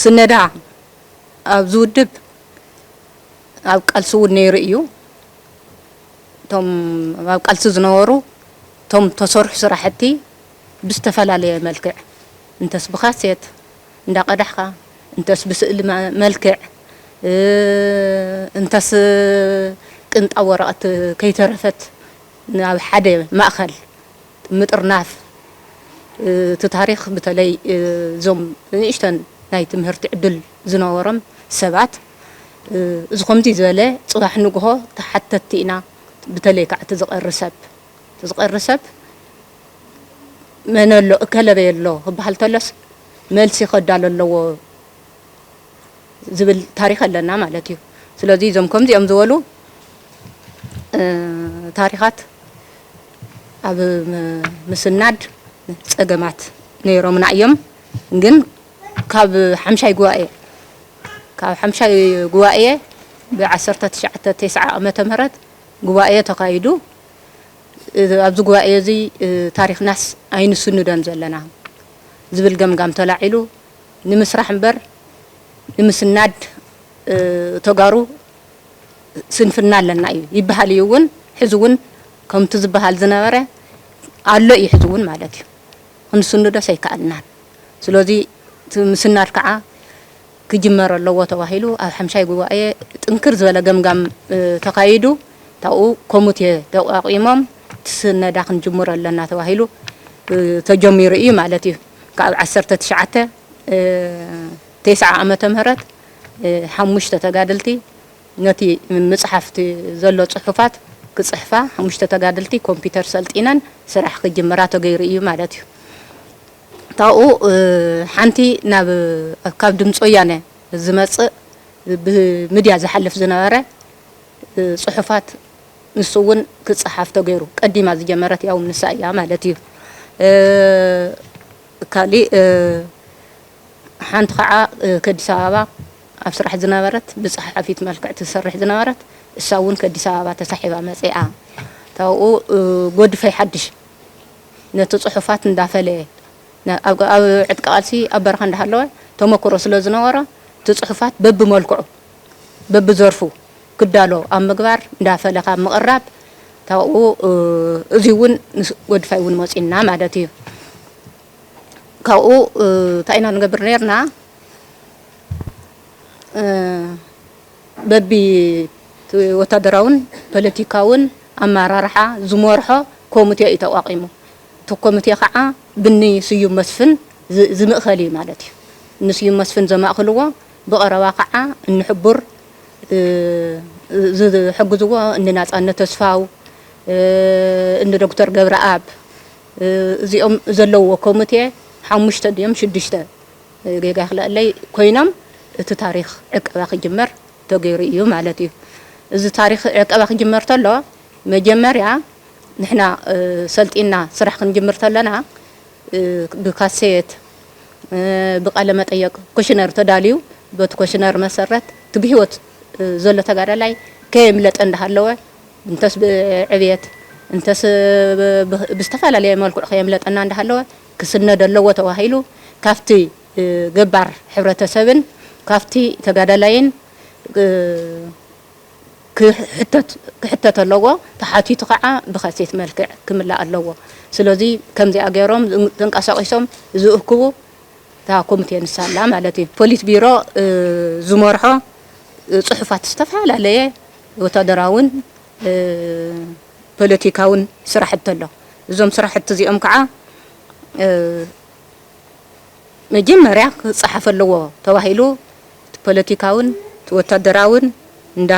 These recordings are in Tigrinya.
ስነዳ ኣብዚ ውድብ ኣብ ቃልሲ እውን ነይሩ እዩ። እቶም ኣብ ቃልሲ ዝነበሩ እቶም ተሰርሑ ስራሕቲ ብዝተፈላለየ መልክዕ እንተስ ብካሴት እንዳቀዳሕካ እንተስ ብስእሊ መልክዕ እንተስ ቅንጣብ ወረቐት ከይተረፈት ናብ ሓደ ማእኸል ምጥርናፍ እቲ ታሪኽ ብተለይ እዞም ንእሽተን ናይ ትምህርቲ ዕድል ዝነበሮም ሰባት እዚ ከምዚ ዝበለ ፅባሕ ንግሆ ተሓተትቲ ኢና ብተለይ ካዓ እቲ ዝቀሪ ሰብ እቲ ዝቀሪ ሰብ መን ኣሎ እከለ በይ ኣሎ ክባሃል ተሎስ መልሲ ከዳሎ ኣለዎ። ዝብል ታሪኽ ኣለና ማለት እዩ። ስለዚ እዞም ከምዚኦም ዝበሉ ታሪኻት ኣብ ምስናድ ፀገማት ነይሮምና እዮም። ግን ካብ ሓምሻይ ጉባኤ ካብ ሓምሻይ ጉባኤ ብዓሰርተ ትሽዓተ ቴስዓ ዓመተ ምህረት ጉባኤ ተኻይዱ ኣብዚ ጉባኤ እዚ ታሪኽናስ ኣይንስንዶን ዘለና ዝብል ገምጋም ተላዒሉ ንምስራሕ እምበር ንምስናድ ተጋሩ ስንፍና ኣለና እዩ ይበሃል እዩ እውን ሕዚ እውን ከምቲ ዝበሃል ዝነበረ ኣሎ እዩ ሕዚ እውን ማለት እዩ ክንስንዶስ ኣይከኣልናን ስለዚ ምስናድ ከዓ ክጅመር ኣለዎ ተባሂሉ ኣብ ሓምሻይ ጉባኤ ጥንክር ዝበለ ገምጋም ተካይዱ ታብኡ ኮሙቴ ተቋቂሞም ትስነዳ ክንጅምሮ ኣለና ተባሂሉ ተጀሚሩ እዩ ማለት እዩ። ካብ ዓሰርተ ትሽዓተ ቴስዓ ዓመተ ምህረት ሓሙሽተ ተጋደልቲ ነቲ ምጽሓፍ እቲ ዘሎ ጽሑፋት ክጽሕፋ ሓሙሽተ ተጋደልቲ ኮምፒተር ሰልጢነን ስራሕ ክጅምራ ተገይሩ እዩ ማለት እዩ። ካብኡ ሓንቲ ናብ ካብ ድምፂ ወያነ ዝመፅእ ብምድያ ዝሓልፍ ዝነበረ ፅሑፋት ንሱ እውን ክጸሓፍ ተገይሩ። ቀዲማ ዝጀመረት ያውም ንሳ ኢያ ማለት ኢዩ። ካሊእ ሓንቲ ካዓ ከዲስ ኣበባ ኣብ ስራሕ ዝነበረት ብጸሓሓፊት መልክዕ ትሰርሕ ዝነበረት እሳ እውን ከዲስ ኣበባ ተሳሒባ መጺኣ ታብኡ ጎድፈይ ሓድሽ ነቲ ጽሑፋት እንዳፈለየ ኣብ ዕጥቂ ቃልሲ ኣብ በረኻ እንዳሃለወ ተመኩሮ ስለዝነበሮ እቲ ጽሑፋት በብመልክዑ በብዘርፉ ክዳሎ ኣብ ምግባር እንዳ ፈለክ ኣብ ምቅራብ ታኡ እዙይ እውን ምስ ጎድፋይ እውን መፂና ማለት እዩ ካብኡ ታይ ኢና ንገብር ነይርና በቢ ወታደራውን ፖለቲካውን ኣመራርሓ ዝመርሖ ኮምቴ እዩ ተቋቂሙ እቲ ኮምቴ ከዓ ብኒ ስዩም መስፍን ዝምእከል እዩ ማለት እዩ ንስዩም መስፍን ዘማእክልዎ ብቐረባ ካዓ እንሕቡር ዝሕግዝዎ እኒ ናፃነት ተስፋው እኒ ዶክተር ገብረኣብ እዚኦም ዘለውዎ ኮምቴ ሓሙሽተ ድዮም ሽዱሽተ ጌጋ ይኽለኣለይ ኮይኖም እቲ ታሪኽ ዕቀባ ክጅመር ተገይሩ እዩ ማለት እዩ። እዚ ታሪኽ ዕቀባ ክጅመር ተሎ መጀመርያ ንሕና ሰልጢንና ስራሕ ክንጅምር ተለና ብካሴት ብቃለመጠየቅ ኮሽነር ተዳልዩ በቲ ኮሽነር መሰረት እቲ ብህይወት ዘሎ ተጋዳላይ ከየምለጠ እንዳሃለወ እንተስ ብዕብየት እንተስ ብዝተፈላለየ መልክዑ ከየምለጠና እንዳሃለወ ክስነድ ኣለዎ ተባሂሉ ካብቲ ገባር ሕብረተሰብን ካብቲ ተጋዳላይን ክሕተት ኣለዎ ተሓቲቱ ካዓ ብከሴት መልክዕ ክምላእ ኣለዎ ስለዚ ከምዚኣ ገይሮም ተንቃሳቂሶም ዝእክቡ እታ ኮምቴ ንሳ ኣላ ማለት እዩ ፖሊት ቢሮ ዝመርሖ ፅሑፋት ዝተፈላለየ ወታደራዊን ፖለቲካዊን ስራሕቲ ኣሎ እዞም ስራሕቲ እዚኦም ካዓ መጀመርያ ክፃሓፍ ኣለዎ ተባሂሉ እቲ ፖለቲካውን እቲ ወታደራውን እንዳ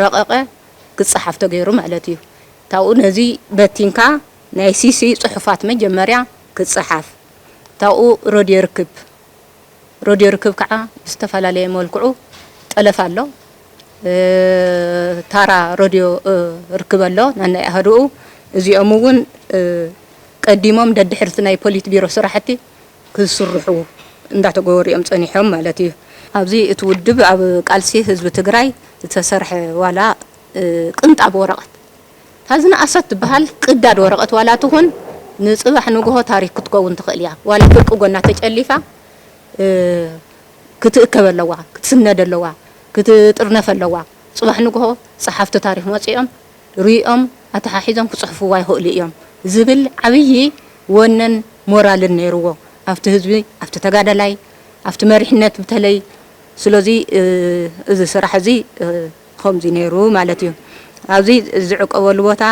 ረቐቐ ክጸሓፍ ተገይሩ ማለት እዩ። ታብኡ ነዚ በቲንካ ናይ ሲሲ ጽሑፋት መጀመርያ ክጸሓፍ ታብኡ ረድዮ ርክብ ረድዮ ርክብ ከኣ ብዝተፈላለየ መልክዑ ጠለፍ ኣሎ ታራ ረድዮ ርክብ ኣሎ ነናይ ኣሃዱኡ እዚኦም እውን ቀዲሞም ደድሕርቲ ናይ ፖሊት ቢሮ ስራሕቲ ክስርሑ እንዳተገበሩ እዮም ፀኒሖም ማለት እዩ። ኣብዚ እቲ ውድብ ኣብ ቃልሲ ህዝቢ ትግራይ ዝተሰርሐ ዋላ ቅንጣብ ወረቐት እታ ዝነኣሰት ትበሃል ቅዳድ ወረቐት ዋላ ትኹን ንፅባሕ ንጉሆ ታሪክ ክትከውን ትኽእል እያ። ዋላ ፍርቂ ጎና ተጨሊፋ ክትእከብ ኣለዋ፣ ክትስነድ ኣለዋ፣ ክትጥርነፍ ኣለዋ። ፅባሕ ንጉሆ ፀሓፍቲ ታሪክ መፂኦም ርእዮም ኣተሓሒዞም ክጽሕፍዋ ይኽእሉ እዮም ዝብል ዓብዪ ወነን ሞራልን ነይርዎ ኣብቲ ህዝቢ ኣብቲ ተጋዳላይ ኣብቲ መሪሕነት ብተለይ ስለዚ እዚ ስራሕ እዚ ኸምዚ ነይሩ ማለት እዩ ኣብዚ ዝዕቀበሉ ቦታ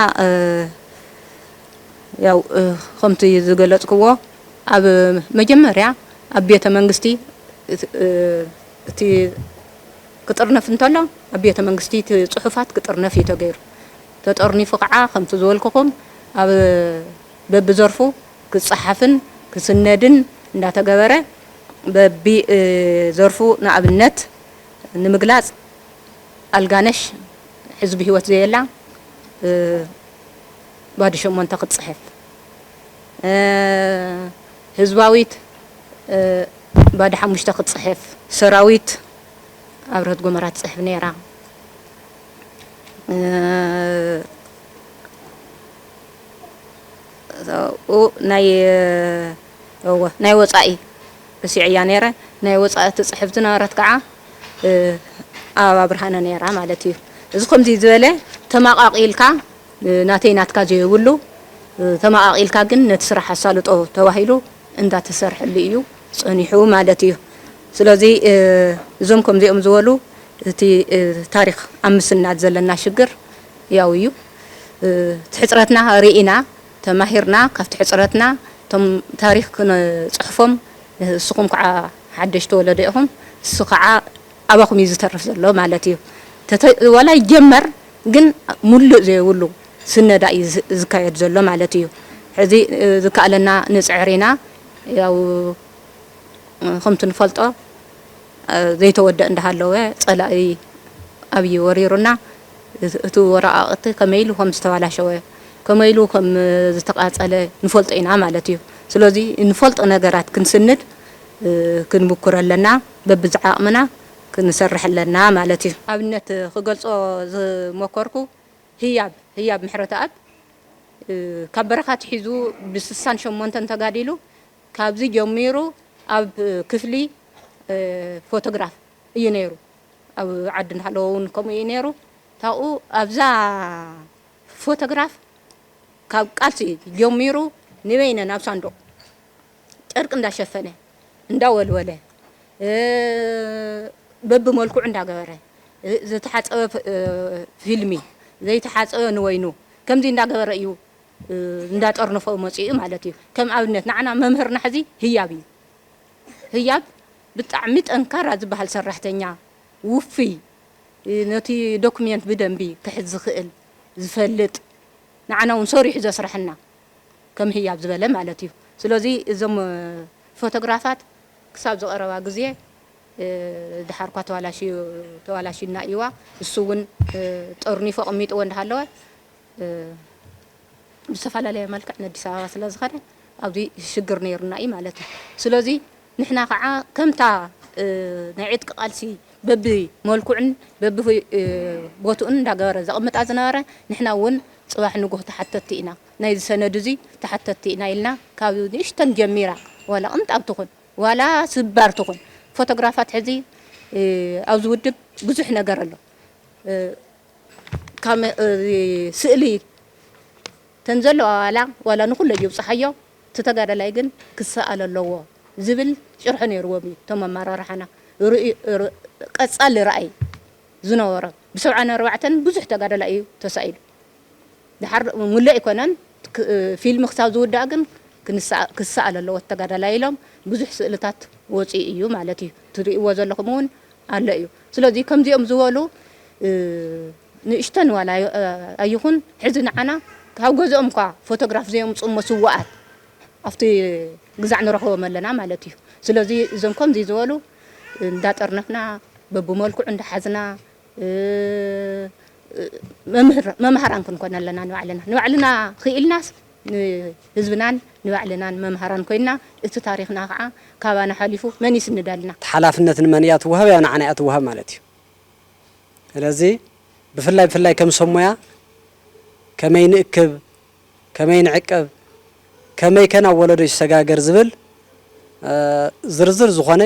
ያው ኸምቲ ዝገለጽክዎ ኣብ መጀመርያ ኣብ ቤተ መንግስቲ እቲ ክጥርነፍ እንተሎ ኣብ ቤተ መንግስቲ እቲ ጽሑፋት ክጥርነፍ እዩ ተገይሩ። ተጠርኒፉ ከኣ ከምቲ ዝበልኩኹም ኣብ በብዘርፉ ክጸሓፍን ክስነድን እንዳተገበረ በቢ ዘርፉ ንኣብነት ንምግላጽ ኣልጋነሽ ሕዚ ብህይወት ዘየላ ባዶ ሸሞንተ ክትጽሕፍ ህዝባዊት ባዶ ሓሙሽተ ክትጽሕፍ። ሰራዊት ኣብርሀት ጎመራ ትጽሕፍ ነይራ። ናይ ወጻኢ ረሲዐያ ነይረ። ናይ ወጻኢ ትጽሕፍ ዝነበረት ከዓ ኣበባ ብርሃነ ነይራ ማለት እዩ። እዚ ከምዚ ዝበለ ተማቃቂልካ ናተይ ናትካ ዘየብሉ ተመቓቒልካ ግን ነቲ ስራሕ ኣሳልጦ ተባሂሉ እንዳተሰርሐሉ እዩ ፀኒሑ ማለት እዩ። ስለዚ እዞም ከምዚኦም ዝበሉ እቲ ታሪኽ ኣብ ምስናድ ዘለና ሽግር ያው እዩ። እቲ ሕፅረትና ሪኢና ተማሂርና ካብቲ ሕፅረትና እቶም ታሪኽ ክንፅሕፎም ንስኹም ከዓ ሓደሽቲ ወለዶ ኢኹም ንሱ ከዓ ኣባኹም እዩ ዝተርፍ ዘሎ ማለት እዩ ተተ ዋላ ይጀመር ግን ሙሉእ ዘይብሉ ስነዳ እዩ ዝካየድ ዘሎ ማለት እዩ ሕዚ ዝከኣለና ንፅዕር ኢና ያው ኸምቲ ንፈልጦ ዘይተወደእ እንዳሃለወ ፀላኢ ኣብይ ወሪሩና እቲ ወረቓቕቲ ከመይ ኢሉ ኸም ዝተባላሸወ ከመይ ኢሉ ኸም ዝተቓፀለ ንፈልጦ ኢና ማለት እዩ ስለዙይ ንፈልጦ ነገራት ክንስንድ ክንምኩር ኣለና። በብዝዓቕምና ክንሰርሕ ኣለና ማለት እዩ። ኣብነት ክገልጾ ዝሞከርኩ ህያብ ህያብ ምሕረተኣብ ካብ በረኻ ኣትሒዙ ብስሳን ሸሞንተን ተጋዲሉ ካብዚ ጀሚሩ ኣብ ክፍሊ ፎቶግራፍ እዩ ነይሩ ኣብ ዓዲ እንዳሃለወ ውን ከምኡ እዩ ነይሩ ታብኡ ኣብዛ ፎቶግራፍ ካብ ቃልሲ ጀሚሩ ንበይነን ኣብ ሳንዱቕ ጨርቂ እንዳሸፈነ እንዳወልወለ በብመልክዑ እንዳገበረ ዝተሓፀበ ፊልሚ ዘይተሓፀበ ንወይኑ ከምዚ እንዳገበረ እዩ እንዳጠርነፎ መፂኡ ማለት እዩ። ከም ኣብነት ንዓና መምህርና ሕዚ ህያብ እዩ። ህያብ ብጣዕሚ ጠንካራ ዝበሃል ሰራሕተኛ ውፍይ ነቲ ዶክሜንት ብደንቢ ክሕዝ ዝኽእል ዝፈልጥ ንዓና እውን ሰሪሑ ዘስረሐና ከም ህያብ ዝበለ ማለት እዩ ስለዚ እዞም ፎቶግራፋት ክሳብ ዝቀረባ ግዜ ድሓርኳ ተባላሽዩ ተባላሽዩና እዩዋ እሱ እውን ጠርኒፉ ኣቀሚጥዎ እንዳሃለወ ብዝተፈላለየ መልክዕ ነዲስ ኣበባ ስለዝኸደ ኣብዚ ሽግር ነይሩና እዩ ማለት እዩ ስለዚ ንሕና ከኣ ከምታ ናይ ዕጥቂ ቃልሲ በቢ መልክዑን በቢ ቦትኡን እንዳገበረ ዘቅምጣ ዝነበረ ንሕና ውን ጽባሕ ንግሆ ተሓተቲ ኢና ናይዚ ሰነድ እዚ ተሓተቲ ኢና ኢልና ካብ ንእሽተን ጀሚራ ዋላ ቅንጣብ ትኹን ዋላ ስባር ትኹን ፎቶግራፋት ሕዚ ኣብዚ ውድብ ብዙሕ ነገር ኣሎ ካብ ስእሊ ተን ዘለዋ ዋላ ዋላ ንኹለይ ይብጽሓዮ እቲ ተጋዳላይ ግን ክሰኣል ኣለዎ ዝብል ጭርሖ ነይርዎም እዩ እቶም ኣመራርሓና ቀፃሊ ራእይ ዝነበሮም ብሰብዓን ኣርባዕተን ብዙሕ ተጋዳላይ እዩ ተሳኢሉ ደሓር ሙሉእ ኣይኮነን ፊልሚ ክሳብ ዝውዳእ ግን ክሰኣል ኣለዎ ተጋዳላይ ኢሎም ብዙሕ ስእልታት ወፂኡ እዩ ማለት እዩ ትሪእዎ ዘለኹም እውን ኣሎ እዩ ስለዚ ከምዚኦም ዝበሉ ንእሽተን ዋላ ኣይኹን ሕዚ ንዓና ካብ ገዝኦም እኳ ፎቶግራፍ ዘየምጹ እሞ ስዋኣት ኣብቲ ግዛዕ ንረኽቦም ኣለና ማለት እዩ ስለዚ እዞም ከምዚ ዝበሉ እንዳጠርነፍና በብመልክዑ እንዳሓዝና መምህር መምሃራን ክንኮን ኣለና ንባዕልና ንባዕልና ኺኢልናስ ንህዝብናን ንባዕልናን መምሃራን ኮይንና እቲ ታሪኽና ካዓ ካባና ሓሊፉ መን ይስንደልና? እቲ ሓላፍነት ንመን እያ ትዋሃብ? ያው ንዓና እያ ትዋሃብ ማለት እዩ። ስለዚ ብፍላይ ብፍላይ ከም ሰብ ሞያ ከመይ ንእክብ፣ ከመይ ንዕቅብ፣ ከመይ ከ ናብ ወለዶ ይሰጋገር ዝብል ዝርዝር ዝኾነ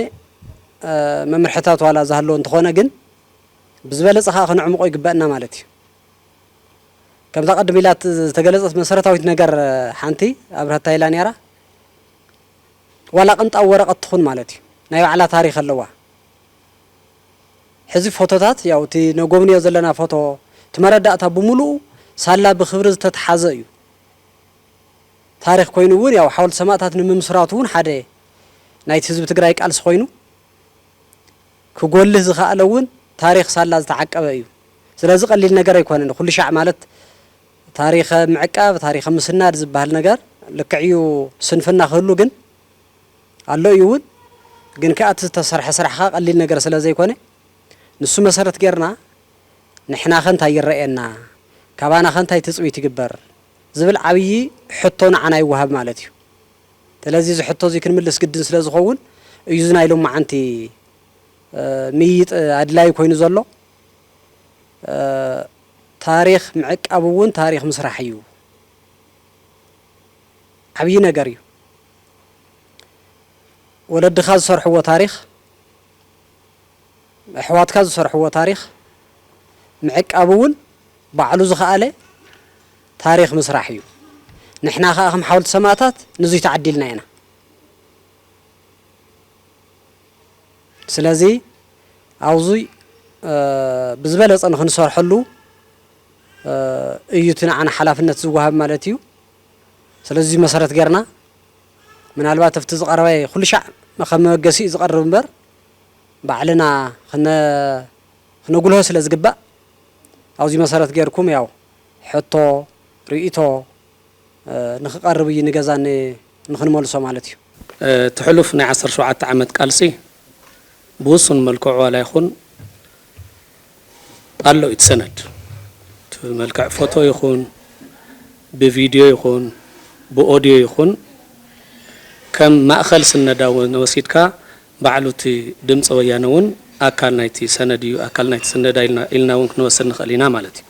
መምርሕታት ዋላ ዝሃለወ እንተኾነ ግን ብዝበለፀ ካዓ ክነዕምቖ ይግበእና ማለት እዩ። ከምዛ ቅድም ኢላ ዝተገለጸት መሰረታዊት ነገር ሓንቲ ኣብርሀት ታይ ኢላ ኔራ ዋላ ቅንጣብ ወረቀት ትኹን ማለት እዩ ናይ ባዕላ ታሪኽ ኣለዋ ሕዚ ፎቶታት ያው እቲ ነጎብንዮ ዘለና ፎቶ እቲ መረዳእታ ብምሉኡ ሳላ ብክብሪ ዝተትሓዘ እዩ ታሪኽ ኮይኑ እውን ያው ሓወልቲ ሰማእታት ንምምስራቱ እውን ሓደ ናይቲ ህዝቢ ትግራይ ቃልሲ ኮይኑ ክጎልህ ዝኸኣለ እውን ታሪኽ ሳላ ዝተዓቀበ እዩ። ስለዚ ቀሊል ነገር ኣይኮነን። ኩሉ ሻዕ ማለት ታሪኸ ምዕቃብ፣ ታሪኸ ምስናድ ዝበሃል ነገር ልክዕ እዩ ስንፍና ክህሉ ግን ኣሎ እዩ እውን። ግን ከኣ እቲ ዝተሰርሐ ስራሕ ከኣ ቀሊል ነገር ስለ ዘይኮነ ንሱ መሰረት ገይርና ንሕናኸ እንታይ ይረኣየና፣ ካባናኸ እንታይ ትጽቢት ይግበር ዝብል ዓብዪ ሕቶ ንዓና ይወሃብ ማለት እዩ። ስለዚ እዚ ሕቶ እዚ ክንምልስ ግድን ስለ ዝኸውን እዩ እዚ ናይ ሎማዓንቲ ምይይጥ ኣድላዪ ኮይኑ ዘሎ። ታሪኽ ምዕቃብ እውን ታሪኽ ምስራሕ እዩ። ዓብዪ ነገር እዩ። ወለድኻ ዝሰርሕዎ ታሪኽ፣ ኣሕዋትካ ዝሰርሕዎ ታሪኽ ምዕቃብ እውን ባዕሉ ዝኸኣለ ታሪኽ ምስራሕ እዩ ንሕና ከኣ ከም ሓወልቲ ሰማእታት ንዙይ ተዓዲልና ኢና ስለዚ ኣብዙይ ብዝበለፀ ንክንሰርሐሉ እዩ እቲ ንዓና ሓላፍነት ዝወሃብ ማለት እዩ ስለዚ መሰረት ገርና ምናልባት ኣብቲ ዝቐረበ ኩሉ ሻዕ ከም መበገሲ እዩ ዝቐርብ እምበር ባዕልና ክነጉልሆ ስለ ዝግባእ ኣብዚ መሰረት ገይርኩም ያው ሕቶ፣ ርእይቶ፣ ንክቐርብ እዩ ንገዛ ን ንክንመልሶ ማለት እዩ። እቲ ሕሉፍ ናይ ዓሰርተ ሸውዓተ ዓመት ቃልሲ ብውሱን መልክዑ ዋላ ይኹን ኣሎ እዩ እቲ ሰነድ እቲ ብመልክዕ ፎቶ ይኹን ብቪድዮ ይኹን ብኦድዮ ይኹን ከም ማእኸል ስነዳ ውን ወሲድካ ባዕሉ እቲ ድምፂ ወያነ ውን ኣካል ናይቲ ሰነድ እዩ ኣካል ናይቲ ስነዳ ኢልና ውን ክንወስድ ንኽእል ኢና ማለት እዩ።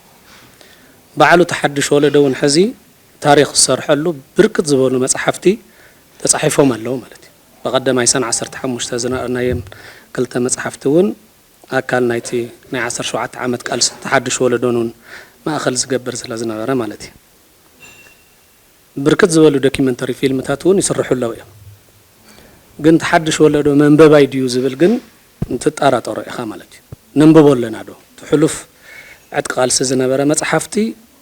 በዓል እቲ ሓዱሽ ወለዶ እውን ሕዚ ታሪኽ ዝሰርሐሉ ብርክት ዝበሉ መፃሕፍቲ ተፃሒፎም ኣለዉ ማለት እዩ። በቐደማይ ሰነ ዓሰርተ ሓሙሽተ ዝነኣርናየን ክልተ መፃሕፍቲ እውን ኣካል ናይቲ ናይ ዓሰርተ ሸውዓተ ዓመት ቃልሲ እቲ ሓዱሽ ወለዶን እውን ማእኸል ዝገብር ስለዝነበረ ማለት እዩ። ብርክት ዝበሉ ደኪመንተሪ ፊልምታት ውን ይስርሑ ኣለው እዮም ግን እቲ ሓድሽ ወለዶ መንበባይ ድዩ ዝብል ግን ትጣራጠሮ ኢኻ ማለት እዩ ነንብቦ ኣለና ዶ እቲ ሕሉፍ ዕጥቂ ቃልሲ ዝነበረ መጽሓፍቲ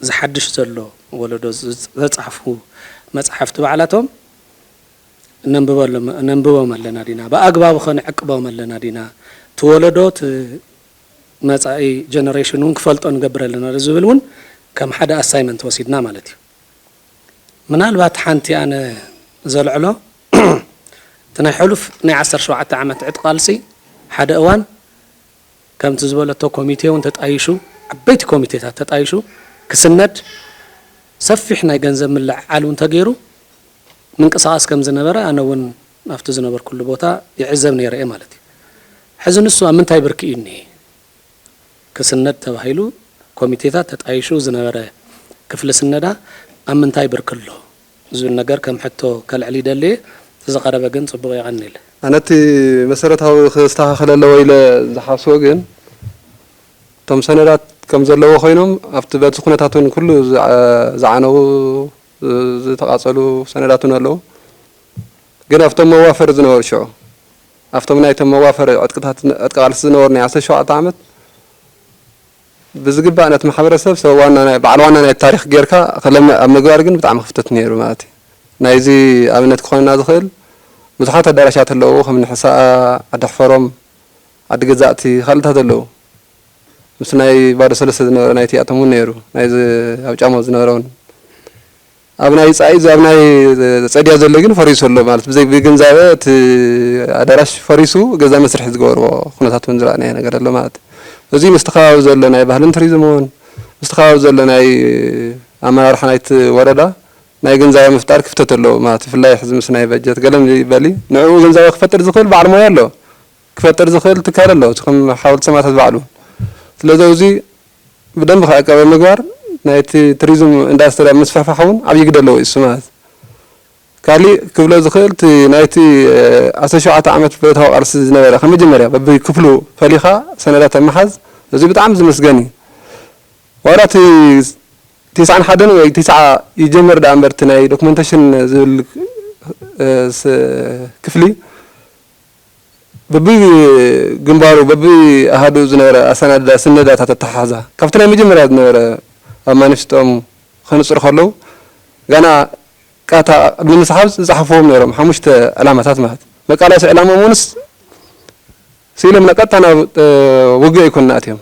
እዚ ሓድሽ ዘሎ ወለዶ ዘጻሕፉ መጽሓፍቲ ባዕላቶም ነንብቦም ኣለና ዲና ብኣግባቡኸ ንዕቅቦም ኣለና ዲና እቲ ወለዶ እቲ መጻኢ ጀነሬሽን ውን ክፈልጦ ንገብር ኣለና ዶ ዝብል ውን ከም ሓደ ኣሳይመንት ወሲድና ማለት እዩ። ምናልባት ሓንቲ ኣነ ዘልዕሎ እቲ ናይ ሕሉፍ ናይ ዓሰርተ ሸውዓተ ዓመት ዕጥቂ ቃልሲ ሓደ እዋን ከምቲ ዝበለቶ ኮሚቴ እውን ተጣይሹ ዓበይቲ ኮሚቴታት ተጣይሹ ክስነድ ሰፊሕ ናይ ገንዘብ ምልዕዓል እውን ተገይሩ ምንቅስቃስ ከም ዝነበረ ኣነ እውን ኣብቲ ዝነበርኩሉ ቦታ ይዕዘብ ነይረ እየ ማለት እዩ። ሕዚ ንሱ ኣብ ምንታይ ብርኪ እዩ እኒሀ? ክስነድ ተባሂሉ ኮሚቴታት ተጣይሹ ዝነበረ ክፍሊ ስነዳ ኣብ ምንታይ ብርኪ ኣሎ ዝብል ነገር ከም ሕቶ ከልዕል ይደሊ እየ። ተዝቐረበ ግን ፅቡቕ የቐንል። ኣነ እቲ መሰረታዊ ክስተኻኸል ኣለዎ ኢለ ዝሓስቦ ግን እቶም ሰነዳት ከም ዘለዎ ኮይኖም ኣብቲ በቲ ኩነታት እውን ኩሉ ዝዓነዉ ዝተቓፀሉ ሰነዳት እውን ኣለዉ። ግን ኣብቶም መዋፈሪ ዝነበሩ ሽዑ ኣብቶም ናይቶም መዋፈሪ ዕጥቅታት ዕጥቂ ቃልሲ ዝነበሩ ናይ ዓሰርተ ሸውዓተ ዓመት ብዝግባእ ነቲ ማሕበረሰብ ሰብ ዋና ናይ በዓል ዋና ናይቲ ታሪኽ ጌርካ ክለምዕ ኣብ ምግባር ግን ብጣዕሚ ክፍተት ነይሩ ማለት እዩ። ናይዚ ኣብነት ክኾነና ዝኽእል ብዙሓት ኣዳራሻት ኣለዉ ከም እኒ ሕሳኣ፣ ዓዲ ኣሕፈሮም፣ ዓዲ ገዛእቲ ካልእታት ኣለዉ። ምስ ናይ ባዶ ሰለስተ ዝነበረ ናይቲ ኣቶም እውን ነይሩ ናይዚ ኣብ ጫሞ ዝነበረ እውን። ኣብ ናይ ጻኢ ኣብ ናይ ጸድያ ዘሎ ግን ፈሪሱ ኣሎ ማለት ብዘይ ብግንዛበ እቲ ኣዳራሽ ፈሪሱ ገዛ መስርሒ ዝገበርዎ ኩነታት ውን ዝረኣናዮ ነገር ኣሎ ማለት እዚ ምስቲ ከባቢ ዘሎ ናይ ባህልን ቱሪዝም ውን ምስቲ ከባቢ ዘሎ ናይ ኣመራርሓ ናይቲ ወረዳ ናይ ግንዛበ ምፍጣር ክፍተት ኣለዎ ማለት ብፍላይ ሕዚ ምስ ናይ በጀት ገለ ይበል ንዕኡ ግንዛበ ክፈጥር ዝኽእል በዓል ሞያ ኣሎ ክፈጥር ዝኽእል ትካል ኣሎ እቲ ከም ሓወልቲ ሰማእታት ባዕሉ ስለዚ ኣብዚ ብደንቢ ክዕቀብ ኣብ ምግባር ናይቲ ትሪዝም ኢንዳስትሪ ኣብ ምስፍሕፋሕ እውን ዓብዪ ግደ ኣለዎ ኢሱ ማለት ካሊእ ክብሎ ዝኽእል እቲ ናይቲ ዓሰርተ ሸውዓተ ዓመት ብረታዊ ቃልሲ ዝነበረ ካብ መጀመርያ በቢክፍሉ ፈሊኻ ሰነዳት ኣብ ምሓዝ እዚ ብጣዕሚ ዝምስገን እዩ ዋላ እቲ ቴስዓን ሓደን ወይ ቴስዓ ይጀመር ደኣ እምበር እቲ ናይ ዶክመንተሽን ዝብል ክፍሊ በብግንባሩ በብኣሃዱኡ ዝነበረ ኣሰናድዳ ስነዳታት ኣተሓሕዛ ካብቲ ናይ መጀመርያ ዝነበረ ኣብ ማኒፊስቶኦም ከንጽሩ ከለዉ ጋና ቃታ ቅድሚ ምስሓብ ዝጸሓፍዎም ነይሮም ሓሙሽተ ዕላማታት ማለት መቃላሲ ዕላምኦም ውንስ ስኢሎም ቀጥታ ናብ ውግእ ኣይኮኑን ኣትዮም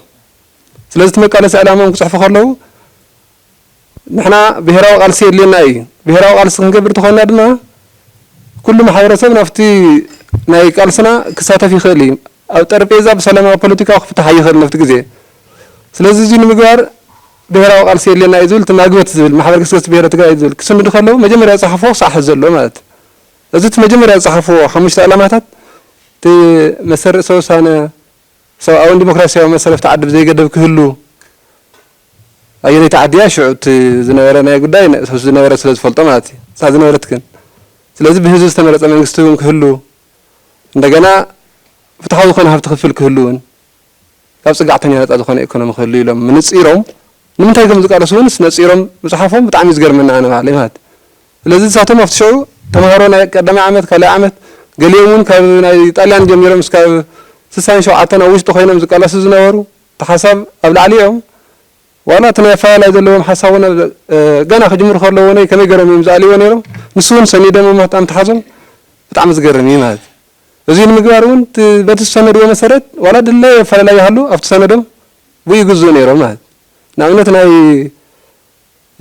ስለዚ እቲ መቃለሲ ዕላምኦም ክጽሕፉ ከለዉ ንሕና ብሄራዊ ቃልሲ የድልየና እዩ። ብሄራዊ ቃልሲ ክንገብር ተኾይንና ድማ ኩሉ ማሕበረሰብ ናብቲ ናይ ቃልስና ክሳተፍ ይኽእል እዩ። ኣብ ጠረጴዛ ብሰላማዊ ፖለቲካዊ ክፍታሕ ኣይኽእልን ናብቲ ግዜ። ስለዚ እዙይ ንምግባር ብሄራዊ ቃልሲ የድልየና እዩ ዝብል እቲ ማግበት ዝብል ማሕበር ገስገስቲ ብሄረ ትግራይ ዝብል ክስንዱ ከለዉ መጀመርያ ዝፀሓፍዎ ክሳዕ ሕዚ ዘሎ ማለት እዩ። እዚ እቲ መጀመርያ ዝፀሓፍዎ ሓሙሽተ ዕላማታት እቲ መሰል ርእሰ ውሳነ፣ ሰብኣውን ዲሞክራሲያውን መሰል ኣብቲ ዓዲ ብዘይገደብ ክህሉ፣ ኣየነይቲ ዓዲ እያ ሽዑ እቲ ዝነበረ ናይ ጉዳይ ንእስ ምስ ዝነበረ ስለ ዝፈልጦ ማለት እዩ እታ ዝነበረት ግን ስለዚ ብህዝቢ ዝተመረፀ መንግስቲ እውን ክህሉ እንደገና ፍትሓዊ ዝኾነ ሃብቲ ክፍል ክህሉ እውን ካብ ፅግዕተኛ ነፃ ዝኾነ ኢኮኖሚ ክህሉ ኢሎም ምንፂሮም ንምንታይ ከም ዝቃለሱ እውንስ ነፂሮም ምፅሓፎም ብጣዕሚ እዩ ዝገርመኒ ኣነ ባዕለይ ማለት ስለዚ ንሳቶም ኣብቲ ሽዑ ተምሃሮ ናይ ቀዳማይ ዓመት ካልኣይ ዓመት ገሊኦም እውን ካብ ናይ ጣልያን ጀሚሮም እስካብ ስሳን ሸውዓተን ኣብ ውሽጢ ኮይኖም ዝቃለሱ ዝነበሩ እቲ ሓሳብ ኣብ ላዕሊ እዮም ዋላ እቲ ናይ ኣፈላላይ ዘለዎም ሓሳብ እውን ገና ክጅምሩ ከለዉ እውነይ ከመይ ገይሮም እዮም ዝኣልይዎ ነይሮም ንሱ እውን ሰኒዶም ምጣም ተሓዞም ብጣዕሚ ዝገርም እዩ ማለት እዚ ንምግባር እውን በቲ ዝሰነድዎ መሰረት ዋላ ድለየ ኣፈላላይ ይሃሉ ኣብቲ ሰነዶም ብኡ ይግዝኡ ነይሮም ማለት ንኣብነት ናይ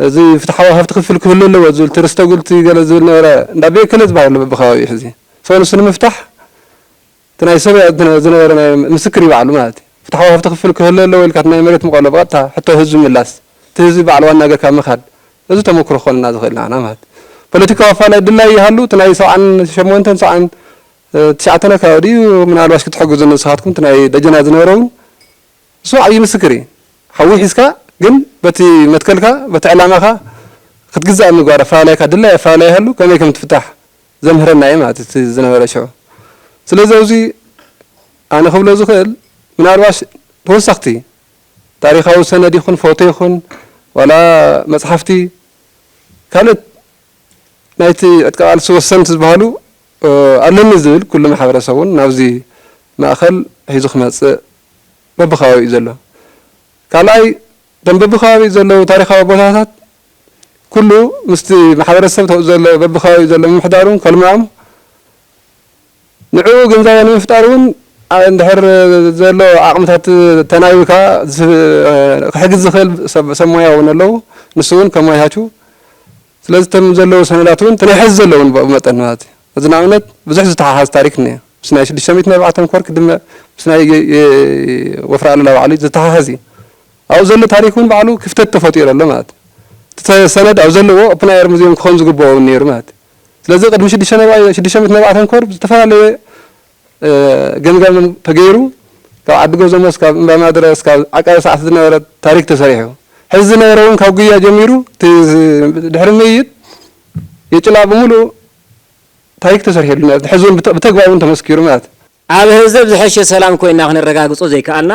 እዚ ፍትሓዊ ሃብቲ ክፍል ክህሉ ኣለዎ ዝብል እቲ ርስተ ጉልቲ ገለ ዝብል ነበረ እንዳ ቤከለ ዝበሃል ኣሎ በብከባቢኡ ሕዚ ሰው ንሱ ንምፍታሕ እቲ ናይ ሰበያ እቲ ዝነበረ ናይ ምስክር እዩ ባዕሉ ማለት እዩ ፍትሓዊ ሃፍቲ ክፍፍል ክህሉ ኣለዎ ኢልካ እቲ ናይ መሬት ምቀሎ ብቀጥታ ሕቶ ህዝቢ ምላስ እቲ ህዝቢ ባዕሉ ዋና ገርካ ምካድ እዚ ተመኩሮ ክኮነና ዝክእል ናዓና ማለት ፖለቲካዊ ኣፋላይ ድላይ ይሃሉ እቲ ናይ ሰብዓን ሸሞንተን ሰብዓን ትሽዓተን ኣከባቢ ድዩ ምናልባሽ ክትሕግዙኒ ንስካትኩም እቲ ናይ ደጀና ዝነበረ ውን ንሱ ውን ዓብይ ምስክር እዩ ሓዊ ሒዝካ ግን በቲ መትከልካ በቲ ዕላማካ ክትግዛእ ምግባር ኣፋላላይካ ድላይ ኣፋላላይ ይሃሉ ከመይ ከም ትፍታሕ ዘምህረና እዩ ማለት እዩ እቲ ዝነበረ ሽዑ። ስለዚ ኣብዚ ኣነ ክብሎ ዝኽእል ምናልባሽ ተወሰኽቲ ታሪኻዊ ሰነድ ይኹን ፎቶ ይኹን ዋላ መጽሓፍቲ ካልኦት ናይቲ ዕጥቂ ቃልሲ ወሰንቲ ዝበሃሉ ኣለኒ ዝብል ኩሉ ማሕበረሰብ እውን ናብዚ ማእኸል ሒዙ ክመጽእ በብከባቢኡ ዘሎ ካልኣይ እቶም በብከባቢኡ ዘለዉ ታሪኻዊ ቦታታት ኩሉ ምስቲ ማሕበረሰብ ዘሎ በብከባቢኡ ዘሎ ምምሕዳር እውን ከልምዖም ንዕኡ ግንዛበ ንምፍጣር እውን እንድሕር ዘሎ ዓቕምታት ተናቢብካ ክሕግዝ ዝኽእል ሰብ ሞያ እውን ኣለዉ ንሱ እውን ከመያቹ ስለዚ እተን ዘለዉ ሰነዳት እውን እቲ ናይ ሕዚ ዘለዉ እውን ብኡ መጠን ማለት እዩ። እዚ ንኣብነት ብዙሕ ዝተሓሓዝ ታሪክ እኒኦ። ምስ ናይ ሽዱሽተ ሚእቲ ናይ በዓል ተምኮር ክድመ ምስ ናይ ወፍሪ ኣሉላ ባዕሉ ዝተሓሓዝ እዩ። ኣብኡ ዘሎ ታሪክ እውን ባዕሉ ክፍተት ተፈጢሩ ኣሎ ማለት እዩ። እቲ ሰነድ ኣብ ዘለዎ ኦፕን ኣየር ሙዚየም ክኾን ዝግበኦ እውን ነይሩ ማለት እዩ። ስለዚ ቅድሚ ሽዱሽተ ናይ ሽዱሽተ ሚእቲ ናይ በዓል ተምኮር ብዝተፈላለየ ገምጋም ተገይሩ ካብ ዓዲ ገዞሞ እስካብ እምባ ማእድረ እስካብ ዓቃቢ ሰዓት ዝነበረ ታሪክ ተሰሪሑ ሕዚ ዝነበረ እውን ካብ ጉያ ጀሚሩ እቲ ድሕሪ ምይይጥ የጭላ ብምሉኡ ታሪክ ተሰሪሕሉ ማለት ሕዚ እውን ብተግባር እውን ተመስኪሩ ማለት እዩ። ኣብ ህዘብ ዝሐሸ ሰላም ኮይና ክነረጋግፆ ዘይከኣልና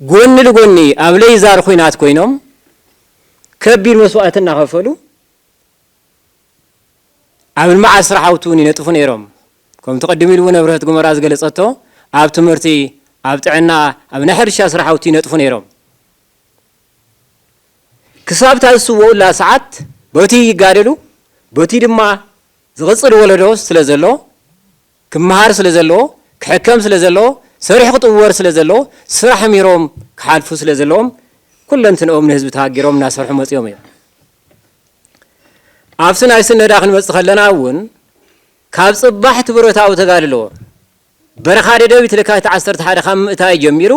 ጎኒ ልጎኒ ኣብ ለይዛር ኹናት ኮይኖም ከቢድ መስዋእቲ እናኸፈሉ፣ ኣብ ልምዓት ስራሕውቲ እውን ይነጥፉ ነይሮም። ከምቲ ቅድም ኢሉ እውን ኣብርሀት ጉመራ ዝገለፀቶ ኣብ ትምህርቲ፣ ኣብ ጥዕና፣ ኣብ ናይ ሕርሻ ስራሕውቲ ይነጥፉ ነይሮም። ክሳብ እታ ዝስወኡላ ሰዓት በትይ ይጋደሉ፣ በትይ ድማ ዝቕፅል ወለዶ ስለዘሎ ክመሃር ስለ ዘለዎ፣ ክሕከም ስለ ዘለዎ፣ ሰሪሑ ክጥወር ስለ ዘለዎ፣ ስራሕ ምሂሮም ክሓልፉ ስለ ዘለዎም ኩለንትንኦም ንህዝቢ ተሃጊሮም እናሰርሑ መጺኦም እዮም። ኣብቲ ናይ ስነዳ ክንመጽእ ከለና እውን ካብ ጽባሕ እቲ ብረታዊ ተጋድሎ በረኻ ደደቢት ለካቲት ዓሰርተ ሓደ ካብ ምእታዩ ጀሚሩ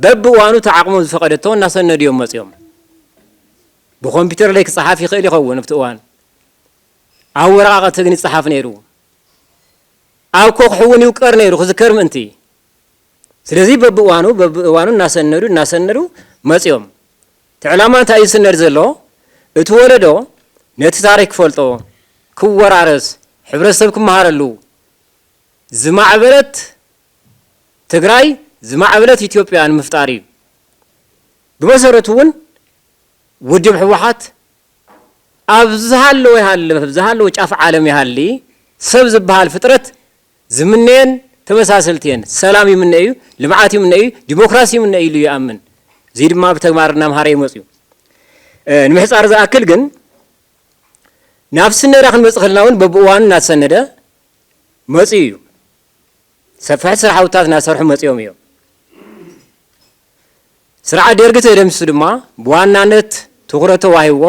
በብእዋኑ እቲ ዓቕሞም ዝፈቐደቶ እናሰነዱ እዮም መጺኦም። ብኮምፒውተር ለይ ክጸሓፍ ይኽእል ይኸውን ኣብቲ እዋን ኣብ ወረቓቐቲ ግን ይጸሓፍ ነይሩ። ኣብ ኮኽሑ እውን ይውቀር ነይሩ ክዝከር ምእንቲ። ስለዚ በብእዋኑ በብእዋኑ እናሰነዱ እናሰነዱ መፅዮም። እቲ ዕላማ እንታይ እዩ ዝስነድ ዘሎ? እቲ ወለዶ ነቲ ታሪክ ክፈልጦ፣ ክወራረስ፣ ሕብረተሰብ ክመሃረሉ፣ ዝማዕበለት ትግራይ ዝማዕበለት ኢትዮጵያ ንምፍጣር እዩ። ብመሰረቱ እውን ውድብ ህወሓት፣ ኣብ ዝሃለወ ይሃልም ኣብ ዝሃለወ ጫፍ ዓለም ይሃሊ ሰብ ዝብሃል ፍጥረት ዝምነየን ተመሳሰልቲ እየን። ሰላም ይምነ እዩ፣ ልምዓት ይምነ እዩ፣ ዲሞክራሲ ይምነ እዩ ኢሉ ይኣምን። እዙይ ድማ ብተግባር እናምሃረ እዩ መፅዩ። ንምሕፃር ዝኣክል ግን ናብ ስነዳ ክንመፅእ ከለና እውን በብእዋኑ እናተሰነደ መፅዩ እዩ። ሰፋሕቲ ስራሕውታት እናሰርሑ መፅዮም እዮም። ስርዓት ደርጊ ተደምሲሱ ድማ ብዋናነት ትኹረት ተዋሂብዎ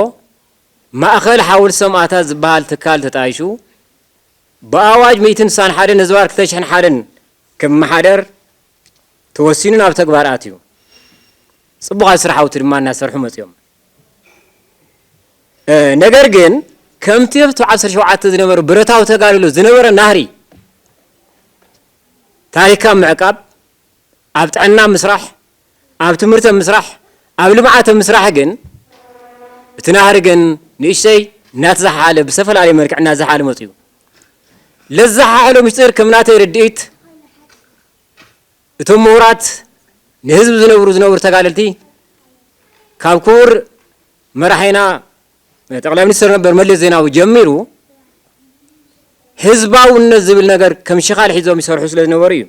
ማእኸል ሓወልቲ ሰማእታት ዝበሃል ትካል ተጣይሹ ብኣዋጅ ሚእትን ስሳን ሓደን ህዝባር ክልተ ሽሕን ሓደን ክመሓደር ተወሲኑ ናብ ተግባር ኣትዩ። ፅቡቕ ኣብ ስርሓውቲ ድማ እናሰርሑ መፂኦም። ነገር ግን ከምቲ ኣብቲ ዓሰርተ ሸውዓተ ዝነበረ ብረታዊ ተጋድሎ ዝነበረ ናህሪ ታሪካ ምዕቃብ ኣብ ጥዕና ምስራሕ፣ ኣብ ትምህርተ ምስራሕ፣ ኣብ ልምዓተ ምስራሕ ግን እቲ ናህሪ ግን ንእሽተይ እናተዘሓሓለ ብዝተፈላለየ መልክዕ እናዘሓሓለ መፂኡ። ለዘሓሓሎ ምስጢር ከም ናተይ ርድኢት እቶም ምሁራት ንህዝቢ ዝነብሩ ዝነብሩ ተጋደልቲ ካብ ክቡር መራሒና ጠቅላይ ሚኒስትር ነበር መለስ ዜናዊ ጀሚሩ ህዝባውነት ዝብል ነገር ከም ሽኻል ሒዞም ይሰርሑ ስለ ዝነበሩ እዩ።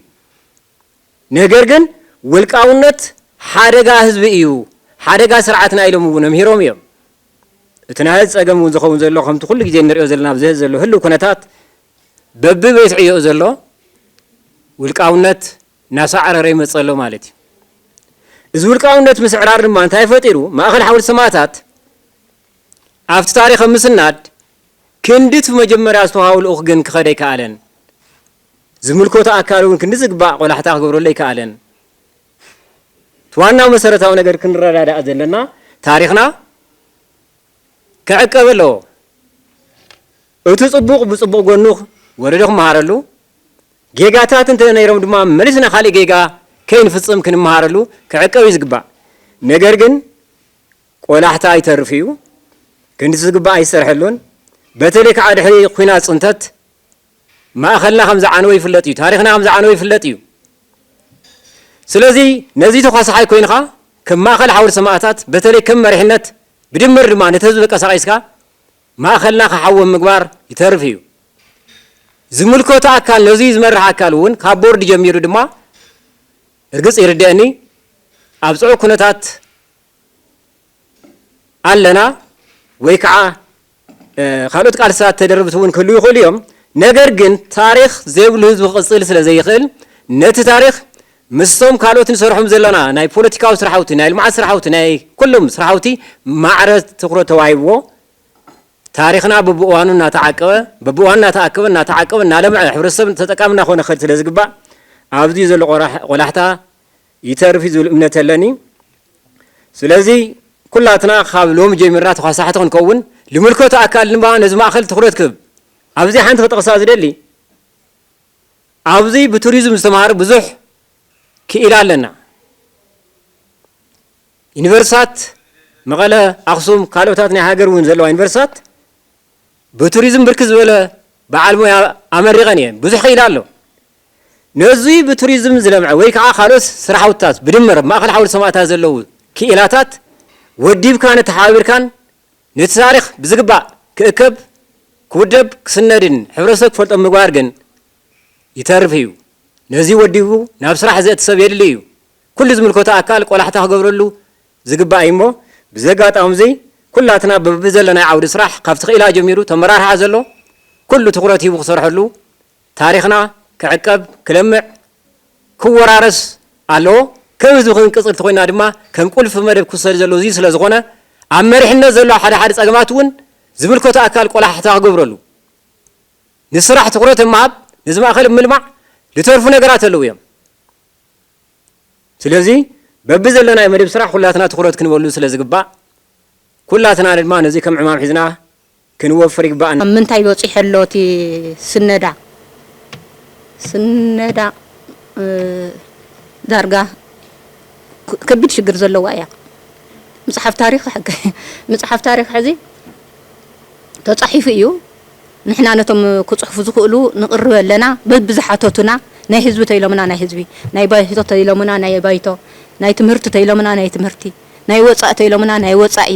ነገር ግን ውልቃውነት ሓደጋ ህዝቢ እዩ፣ ሓደጋ ስርዓትና ኢሎም እውን ኣምሂሮም እዮም። እቲ ናይ ሐዚ ፀገም እውን ዝኸውን ዘሎ ከምቲ ኩሉ ግዜ እንሪኦ ዘለና ኣብዚ ሐዚ ዘሎ ህልው ኩነታት በቢ ቤት ዕዮኡ ዘሎ ውልቃውነት እናሳዕረረ ይመፅእ ኣሎ ማለት እዩ። እዚ ውልቃውነት ምስዕራር ድማ እንታይ ፈጢሩ? ማእኸል ሓወልቲ ሰማእታት ኣብቲ ታሪኽ ኣብ ምስናድ ክንድቲ መጀመርያ ዝተውሃቦ ልኡኽ ግን ክኸድ ኣይከኣለን። ዝምልከቶ ኣካል እውን ክንዲ ዝግባእ ቆላሕታ ክገብረሉ ኣይከኣለን። እቲ ዋናው መሰረታዊ ነገር ክንረዳዳእ ዘለና ታሪኽና ክዕቀብ ኣለዎ። እቲ ጽቡቕ ብጽቡቕ ጎኑ ወለዶ ክመሃረሉ፣ ጌጋታት እንተ ነይሮም ድማ መሊስና ካልእ ጌጋ ከይንፍጽም ክንመሃረሉ ክዕቀብ እዩ ዝግባእ። ነገር ግን ቆላሕታ ይተርፍ እዩ፣ ክንዲ ዝግባእ ኣይሰርሐሉን። በተለይ ከዓ ድሕሪ ኲናት ጽንተት ማእኸልና ከም ዝዓነወ ይፍለጥ እዩ። ታሪኽና ከም ዝዓነወ ይፍለጥ እዩ። ስለዚ ነዚ ተኳሳሓይ ኮይንኻ ከም ማእኸል ሓውልቲ ሰማእታት በተለይ ከም መሪሕነት ብድምር ድማ ነቲ ህዝቢ ቀሳቂስካ ማእኸልና ክሓዊ ኣብ ምግባር ይተርፍ እዩ። ዝምልከቶ ኣካል ነዙይ ዝመርሕ ኣካል እውን ካብ ቦርድ ጀሚሩ ድማ እርግፅ ይርደእኒ ኣብ ፅዑቅ ኩነታት ኣለና ወይ ከዓ ካልኦት ቃልስታት ተደርብቲ እውን ክህልው ይኽእሉ እዮም። ነገር ግን ታሪኽ ዘይብሉ ህዝቢ ክቕፅል ስለ ዘይኽእል ነቲ ታሪኽ ምስቶም ካልኦት ንሰርሖም ዘለና ናይ ፖለቲካዊ ስራሕውቲ፣ ናይ ልምዓት ስራሕውቲ፣ ናይ ኩሎም ስራሕውቲ ማዕረ ትኹረት ተዋሂብዎ ታሪኽና በብእዋኑ እናተዓቀበ በብእዋኑ እናተኣከበ እናተዓቀበ እናለምዐ ሕብረተሰብ ተጠቃሚ እናኾነ ክኸድ ስለ ዝግባእ ኣብዚ ዘሎ ቆላሕታ ይተርፍ እዩ ዝብል እምነት ኣለኒ። ስለዚ ኩላትና ካብ ሎሚ ጀሚርና ተዃሳሕቲ ክንከውን፣ ልምልከቶ ኣካል ድማ ነዚ ማእኸል ትኹረት ክህብ። ኣብዚ ሓንቲ ክጠቕሳ ዝደሊ፣ ኣብዚ ብቱሪዝም ዝተምሃረ ብዙሕ ክኢላ ኣለና። ዩኒቨርሲታት መቐለ፣ ኣኽሱም፣ ካልኦታት ናይ ሃገር እውን ዘለዋ ዩኒቨርሲታት ብቱሪዝም ብርክት ዝበለ በዓል ሞያ ኣመሪቐን እየን። ብዙሕ ክኢላ ኣሎ። ነዙይ ብቱሪዝም ዝለምዐ ወይ ከዓ ካልኦት ስራሕውትታት ብድምር ኣብ ማእኸል ሓወልቲ ሰማእታት ዘለዉ ክኢላታት ወዲብካን ኣተሓባቢርካን ነቲ ታሪኽ ብዝግባእ ክእከብ፣ ክውደብ፣ ክስነድን ሕብረተሰብ ክፈልጦ ምግባር ግን ይተርፍ እዩ። ነዙይ ወዲቡ ናብ ስራሕ ዘእቲ ሰብ የድሊ እዩ። ኩሉ ዝምልከቶ ኣካል ቆላሕታ ክገብረሉ ዝግባእ እዩሞ ብዚ ኣጋጣምዚ ኩላትና በብዘለናዮ ዓውዲ ስራሕ ካብቲ ክኢላ ጀሚሩ ተመራርሓ ዘሎ ኩሉ ትኹረት ሂቡ ክሰርሐሉ ታሪኽና ክዕቀብ ክለምዕ ክወራረስ ኣለዎ ከም ህዝቢ ክንቅፅል ተኾይንና ድማ ከም ቁልፊ መደብ ክውሰድ ዘለዎ እዙይ ስለዝኾነ ኣብ መሪሕነት ዘሎ ሓደ ሓደ ፀገማት እውን ዝምልከቶ ኣካል ቆላሕታ ክገብረሉ ንስራሕ ትኹረት ምሃብ ነዚ ማእኸል ምልማዕ ልተርፉ ነገራት ኣለዉ እዮም። ስለዚ በብዘለናዮ መደብ ስራሕ ኩላትና ትኹረት ክንበሉ ስለ ዝግባእ ኩላትና ድማ ነዚ ከም ዕማም ሒዝና ክንወፍር ይግበኣና። ኣብ ምንታይ በጺሑ ኣሎ እቲ ስነዳ ስነዳ ዳርጋ ከቢድ ሽግር ዘለዋ ኢያ ምጽሓፍ ታሪኽ ምጽሓፍ ታሪኽ ሕዚ ተጻሒፉ ኢዩ ንሕና ነቶም ክጽሕፉ ዝኽእሉ ንቕርብ ኣለና በብዝሓተቱና ናይ ህዝቢ ተይሎምና ናይ ህዝቢ ናይ ባይቶ ተይሎምና ናይ ባይቶ ናይ ትምህርቲ ተይሎምና ናይ ትምህርቲ ናይ ወጻኢ ተይሎምና ናይ ወጻኢ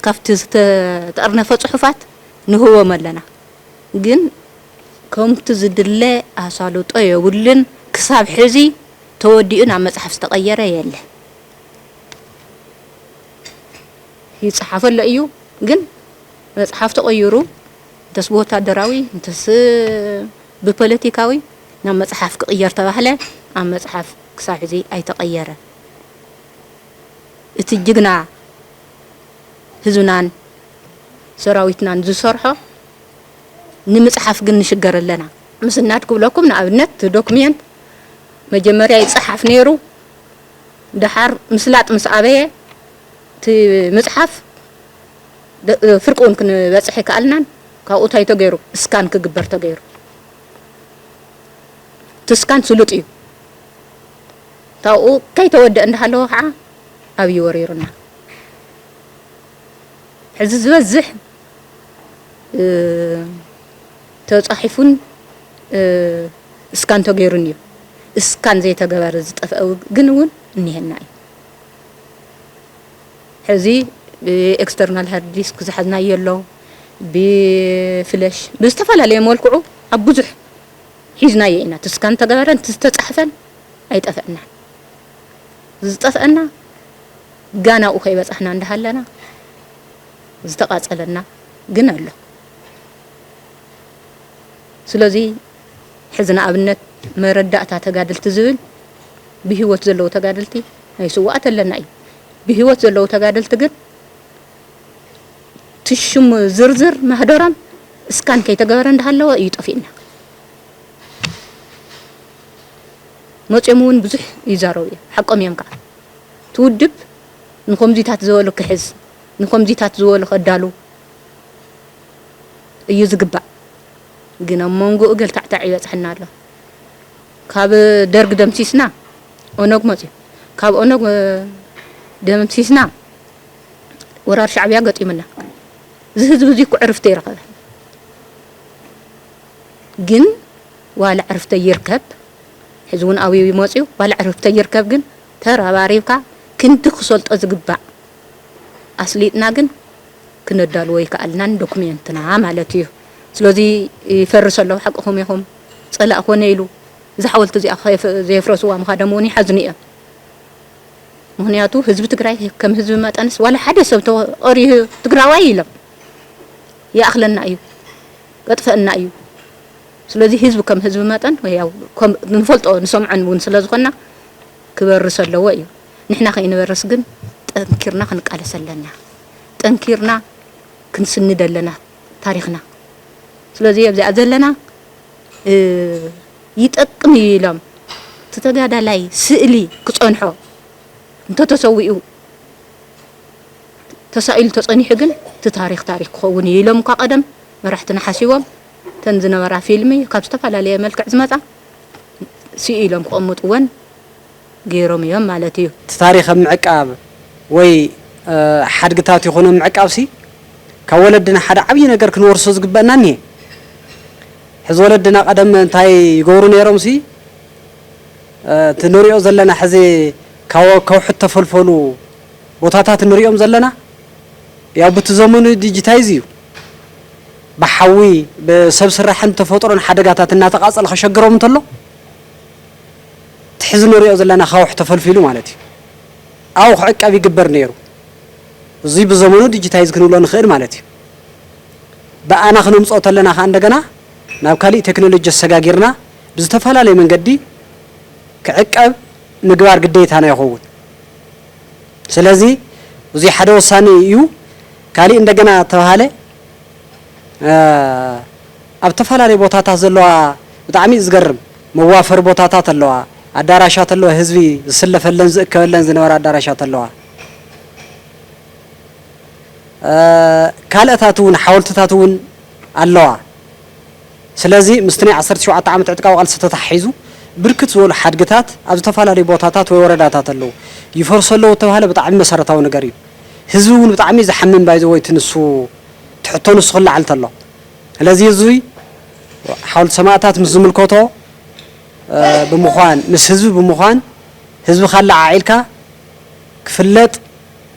ካብቲ ዝተጠርነፈ ጽሑፋት ንህቦም ኣለና ግን ከምቲ ዝድለ ኣሳልጦ የብሉን ክሳብ ሕዚ ተወዲኡ ናብ መጽሓፍ ዝተቐየረ የለን። ይጽሓፍ ኣሎ እዩ ግን መጽሓፍ ተቐይሩ እንተስ ብወታደራዊ እንተስ ብፖለቲካዊ ናብ መጽሓፍ ክቕየር ተባህለ ኣብ መጽሓፍ ክሳብ ሕዚ ኣይተቐየረ እቲ ጅግና ህዝብናን ሰራዊትናን ዝሰርሖ ንምጽሓፍ ግን ንሽገር ኣለና። ምስናድ ክብለኩም ንኣብነት እቲ ዶክሜንት መጀመርያ ይጸሓፍ ነይሩ ደሓር ምስላጥ ምስ ኣበየ እቲ ምጽሓፍ ፍርቂ ውን ክንበጽሕ ኣይከኣልናን ካብኡ ታይ ተገይሩ እስካን ክግበር ተገይሩ እቲ እስካን ስሉጥ እዩ ካብኡ ከይተወደእ እንዳሃለወ ከዓ ኣብይ ወሪሩና ሕዚ ዝበዝሕ ተጻሒፉን እስካን ተገይሩን እዩ እስካን ዘይተገበረ ዝጠፍአ ግን ውን እኒሀና እዩ። ሕዚ ብኤክስተርናል ሃርድ ዲስክ ዝሓዝናዮ ኣሎ፣ ብፍለሽ ብዝተፈላለየ መልክዑ ኣብ ብዙሕ ሒዝናዮ ኢና። እቲ ስካን ዝተገበረን እቲ ዝተጻሕፈን ኣይጠፍአናን። ዝጠፍአና ጋና ኣብኡ ከይበጻሕና እንዳሃለና ዝተቓጸለና ግን ኣሎ። ስለዚ ሕዚ ንኣብነት መረዳእታ ተጋደልቲ ዝብል ብሂወት ዘለዉ ተጋደልቲ ናይ ስውኣት ኣለና እዩ ብሂወት ዘለዉ ተጋደልቲ ግን ትሽሙ ዝርዝር ማህደሮም እስካን ከይተገበረ እንዳሃለወ እዩ ጠፊእና መፅኦም እውን ብዙሕ ይዛረቡ እዮም ሓቆም እዮም ከዓ ትውድብ ንኮምዚታት ዝበሉ ክሕዝ ንኮምዚታት ዝበሉ ከዳሉ እዩ ዝግባእ ግን ኣብ ሞንጎኡ ገልታዕታዕ ይበጽሐና ኣሎ ካብ ደርግ ደምሲስና ኦነግ መጽዩ ካብ ኦነግ ደምሲስና ወራር ሻዕብያ ገጢሙና እዚ ህዝቢ እዚ እኮ ዕርፍቲ ይረኸበ ግን ዋላ ዕርፍተ ይርከብ ሕዚ እውን ኣብዩ ይመጽዩ ዋላ ዕርፍተ ይርከብ ግን ተረባሪብካ ክንዲ ክሰልጦ ዝግባእ ኣስሊጥና ግን ክነዳልዎ ይከኣልናን ዶክሜንትና ማለት እዩ ስለዚ ይፈርስ ኣሎ ሓቅኹም ኢኹም ጸላኢ ኮነ ኢሉ እዛ ሓወልቲ እዚኣ ዘየፍረስዋ ምኻዶም እውን ይሓዝኑ እዮም ምክንያቱ ህዝቢ ትግራይ ከም ህዝቢ መጠንስ ዋላ ሓደ ሰብ ተቐሪሁ ትግራዋይ ኢሎም ይኣኽለና እዩ ከጥፈእና እዩ ስለዚ ህዝቢ ከም ህዝቢ መጠን ያው ንፈልጦ ንሰምዖን እውን ስለ ዝኾና ክበርስ ኣለዎ እዩ ንሕና ከይንበርስ ግን ጠንኪርና ክንቃለስ ኣለና ጠንኪርና ክንስንድ ኣለና ታሪኽና ስለዚ ኣብዚኣ ዘለና ይጠቅም እዩ ኢሎም እቲ ተጋዳላይ ስእሊ ክጸንሖ እንተተሰዊኡ ተሳኢሉ ተጸኒሑ ግን እቲ ታሪኽ ታሪኽ ክኸውን እዩ ኢሎም እኳ ቀደም መራሕትና ሓሲቦም ተን ዝነበራ ፊልሚ ካብ ዝተፈላለየ መልክዕ ዝመጻ ስኢሎም ክቕምጥወን ገይሮም እዮም ማለት እዩ። እቲ ታሪኽ ኣብ ምዕቃብ ወይ ሓድግታት ይኹን ኣብ ምዕቃብሲ ካብ ወለድና ሓደ ዓብዪ ነገር ክንወርሶ ዝግበእና እኒሀ። ሕዚ ወለድና ቀደም እንታይ ይገብሩ ነይሮምሲ እቲ ንሪኦ ዘለና ሕዚ ካብ ከውሒ እተፈልፈሉ ቦታታት ንሪኦም ዘለና ያው ብቲ ዘመኑ ዲጂታይዝ እዩ ብሓዊ ብሰብ ስራሕን ተፈጥሮን ሓደጋታት እናተቓፀለ ከሸግሮም እንተሎ እቲ ሕዚ ንሪኦ ዘለና ኣኻውሕ ተፈልፊሉ ማለት እዩ። ኣብኡ ክዕቀብ ይግበር ነይሩ። እዙይ ብዘመኑ ዲጂታይዝ ክንብሎ ንኽእል ማለት እዩ። ብኣና ክነምፅኦ ተለና ከዓ እንደገና ናብ ካሊእ ቴክኖሎጂ ኣሰጋጊርና ብዝተፈላለዩ መንገዲ ክዕቀብ ምግባር ግዴታና ይኸውን። ስለዚ እዙይ ሓደ ወሳኒ እዩ። ካሊእ እንደገና ተብሃለ ኣብ ተፈላለዩ ቦታታት ዘለዋ ብጣዕሚ እዩ ዝገርም። መዋፈሪ ቦታታት ኣለዋ፣ ኣዳራሻት ኣለዋ፣ ህዝቢ ዝስለፈለን ዝእከበለን ዝነበራ ኣዳራሻት ኣለዋ። ካልኣታት እውን ሓወልትታት እውን ኣለዋ። ስለዚ ምስቲ ናይ ዓሰርተ ሸውዓተ ዓመት ዕጥቃዊ ቃልሲ ተተሓሒዙ ብርክት ዝበሉ ሓድግታት ኣብ ዝተፈላለዩ ቦታታት ወይ ወረዳታት ኣለዉ። ይፈርሱ ኣለዉ እተባህለ ብጣዕሚ መሰረታዊ ነገር እዩ። ህዝቢ እውን ብጣዕሚ እዩ ዝሓምም ባይዘወይ እቲ ንሱ እቲ ሕቶ ንሱ ክለዓል ተሎ። ስለዚ እዙይ ሓውልቲ ሰማእታት ምስ ዝምልከቶ ብምዃን ምስ ህዝቢ ብምዃን ህዝቢ ካለዓዒልካ ክፍለጥ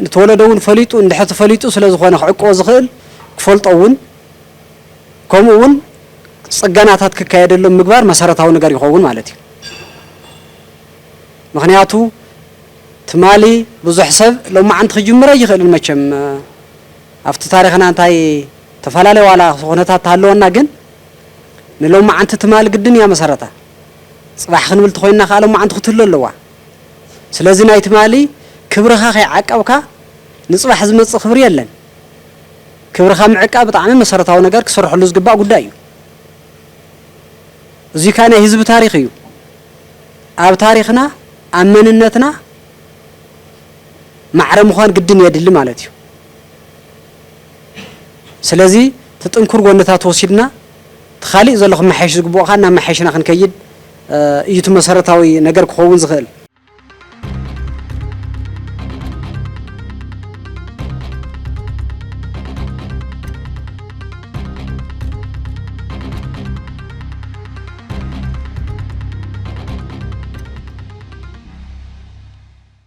ንተወለዶ እውን ፈሊጡ እንድሕር ተፈሊጡ ስለ ዝኾነ ክዕቅቦ ዝኽእል ክፈልጦ እውን ከምኡ እውን ፅገናታት ክካየደሎም ምግባር መሰረታዊ ነገር ይኸውን ማለት እዩ። ምኽንያቱ ትማሊ ብዙሕ ሰብ ሎማዓንቲ ክጅምር ኣይኽእልን መቸም ኣብቲ ታሪኽና እንታይ ተፈላለ ዋላ ኹነታት ተሃለወና ግን ንሎማዓንቲ ትማል ግድን እያ መሰረታ ፅባሕ ክንብል ተኾይንና ኻዓ ሎማዓንቲ ኹትህሉ ኣለዋ ስለዚ ናይ ትማሊ ክብርኻ ከይዓቀብካ ንፅባሕ ዝመፅእ ኽብሪ የለን ክብርኻ ምዕቃብ ብጣዕሚ መሰረታዊ ነገር ክስረሐሉ ዝግባእ ጉዳይ እዩ እዙይ ካዓ ናይ ህዝቢ ታሪኽ እዩ ኣብ ታሪኽና ኣብ መንነትና ማዕረ ምዃን ግድን የድሊ ማለት እዩ። ስለዚ እቲ ጥንኩር ጎንታት ወሲድና እቲ ካሊእ ዘሎ ክመሓየሽ ዝግብኦ ከኣ እናመሓየሽና ክንከይድ እዩ እቲ መሰረታዊ ነገር ክኸውን ዝኽእል።